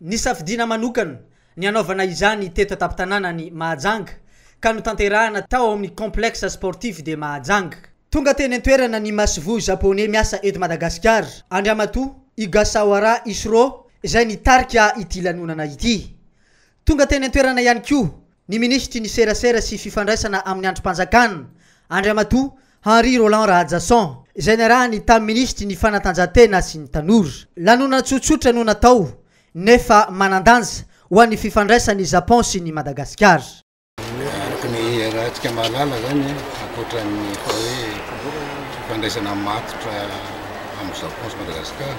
Nisafidiana manokana ny hanaovana izany teto an-tampon-tanàna ny Mahajanga ka notanterahina tao amin'ny Complexe Sportif de Mahajanga. Tonga teny an-toerana ny masoivoho Japoney miasa eto Madagasikara, Andriamatoa Igasawara Isro izay nitarika ity lanonana ity. Tonga teny an-toerana ihany koa ny minisitry ny Serasera sy fifandraisana amin'ny andrim-panjakana, Andriamatoa Henri Rolland Rahajason, izay niarahany tamin'ny minisitry ny Fanatanjahantena sy ny Tanora. Lanonana tsotsotra no natao nefa manan-danja ho an'ny fifandraisan' i Japon sy ny Madagasikara. Araka ny iarahantsika mahalala izany, ankoatra ny atao hoe fifandraisana matotra amin'i Japon sy Madagasikara,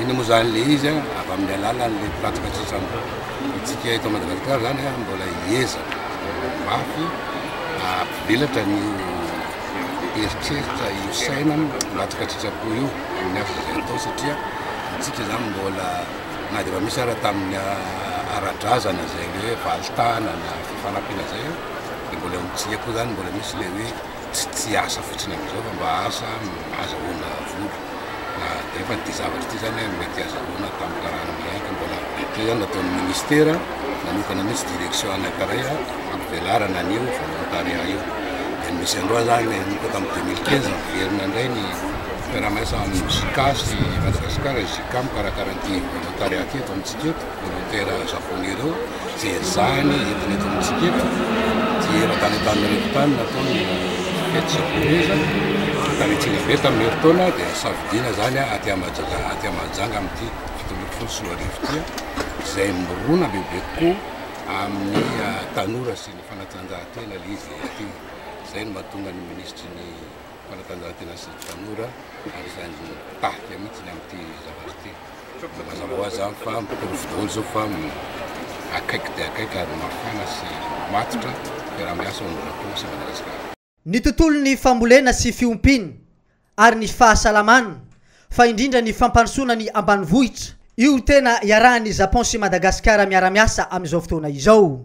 Inona moa izany ilay izy an? Avy amin'ny alalan'ilay mpiratsaka sisa antsika eto Madagasikara izany an, mbola hiezaka mafy hampivelatra ny eritreritra, io saina miratsaka tsy sitrapo io amin'ny asa izay atao satria antsika izany mbola na dia efa misy ara tamin'ny ara-drazana izay hoe valin-tanana, fifanampiana izay an, dia mbola eo amintsika koa izany mbola misy ilay hoe. tsy tsy asa fotsiny amizao fa mba asa azahoana vola na nefa ity zavatra ity zany an mety azahoana atao amin'ny karana miaiky mbola ohatra zany nataon'ny ministera nanokana mihitsy direction anankiray hampivelarana an'io volontariat io dia ny misy androa zany nanomboka tamin'ny 2015 niverina indray ny fiaraha-miasa amin'ny JICA sy Madagasikara JICA mikarakara an'ity volontariat ity eto amintsika eto Dokotera Japoney ireo dia ezahiny entina eto amintsika eto dia matanitany manery tany nataony fety japoney fankarintiana be tamin'ny herintaona dia safidiana izany aty Mahajanga aty Mahajanga amin'ity fito ambin'ny folo sy roa arivo ity izay mirona bebe kokoa amin'ny ah, tanora sy ny fanatanjahantena ilay izy aty izay no mahatonga ny minisitry ny fanatanjahantena sy ny tanora ary izany tahaka mihitsy ny amin'ity zavatra ity Mazava ho azy izany fa amin'izao fotoana izao fa akaiky dia akaiky ary mafana sy matotra ny fiaraha-miasa ao amin'ny Japon sy Madagasikara. Ny tontolon'ny fambolena sy fiompiana ary ny fahasalamana fa indrindra ny fampandrosoana ny ambanivohitra, io tena iarahan'ny Japon sy Madagasikara miara-miasa amin'izao fotoana izao.